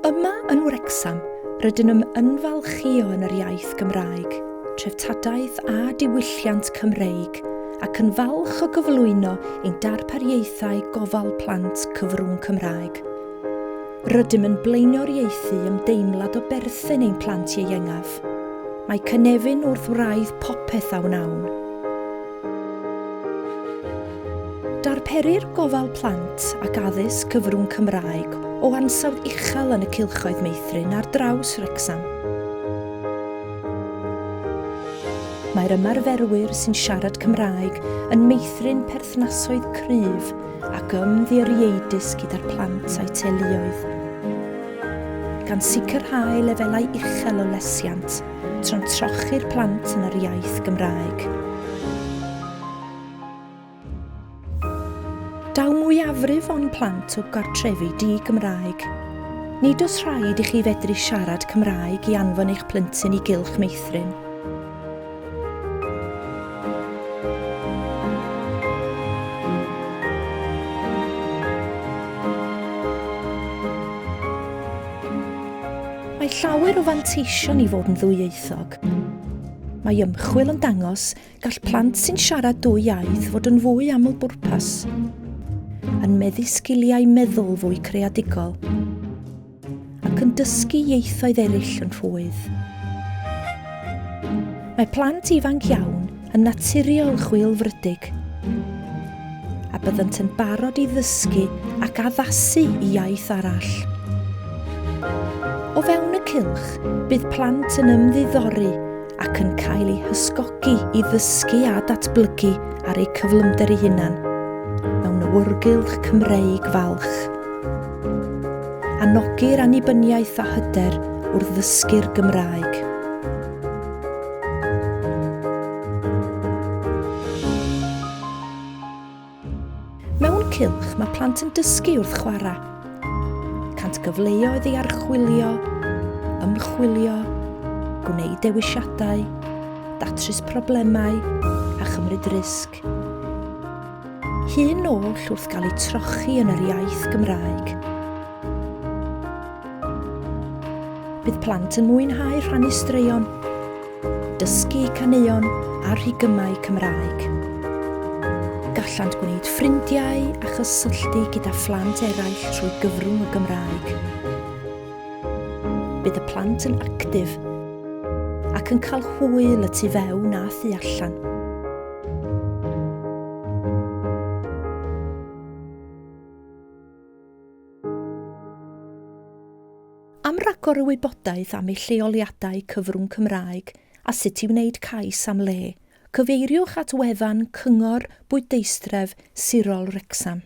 Yma yn Wrecsam, rydyn yn ymfalchïo yn yr iaith Gymraeg, treftadaeth a diwylliant Cymreig ac yn falch o gyflwyno ein darpariaethau gofal plant cyfrwng Cymraeg. Rydym yn blaenoriaethu ymdeimlad o berthyn ein plant ieuengaf. Mae cynefin wrth wraidd popeth a wnawn. Darperir gofal plant ac addysg cyfrwng Cymraeg o ansawdd uchel yn y cylchoedd meithrin ar draws Wrecsam. Mae'r ymarferwyr sy'n siarad Cymraeg yn meithrin perthnasoedd cryf ac ymddirieudus gyda'r plant a'u teuluoedd, gan sicrhau lefelau uchel o lesiant tra'n trochi'r plant yn yr iaith Gymraeg. Daw mwyafrif o'n plant o gartrefi di-Gymraeg. Nid oes rhaid i chi fedru siarad Cymraeg i anfon eich plentyn i gylch meithrin. Mae llawer o fanteision i fod yn ddwyieithog. Mae ymchwil yn dangos gall plant sy'n siarad dwy iaith fod yn fwy aml bwrpas, yn meddu sgiliau meddwl fwy creadigol, ac yn dysgu ieithoedd eraill yn rhwydd. Mae plant ifanc iawn yn naturiol chwilfrydig, a byddant yn barod i ddysgu ac addasu i iaith arall. O fewn y cylch, bydd plant yn ymddiddori ac yn cael eu hysgogi i ddysgu a datblygu ar eu cyflymder eu hunan mewn awyrgylch Cymreig falch. Anogir annibyniaeth a hyder wrth ddysgu'r Gymraeg. Mewn cylch mae plant yn dysgu wrth chwarae. Cant gyfleoedd i archwilio, ymchwilio, gwneud dewisiadau, datrys problemau a chymryd risg. Gymraeg. Hyn oll wrth gael eu trochi yn yr iaith Gymraeg. Bydd plant yn mwynhau rhannu straeon, dysgu caneuon a rhigymau Cymraeg. Gallant gwneud ffrindiau a chysylltu gyda phlant eraill trwy gyfrwng y Gymraeg. Bydd y plant yn actif ac yn cael hwyl y tu fewn a thu allan. Am ragor o wybodaeth am ei lleoliadau cyfrwng Cymraeg a sut i wneud cais am le, cyfeiriwch at wefan Cyngor Bwydeistref Sirol Wrecsam.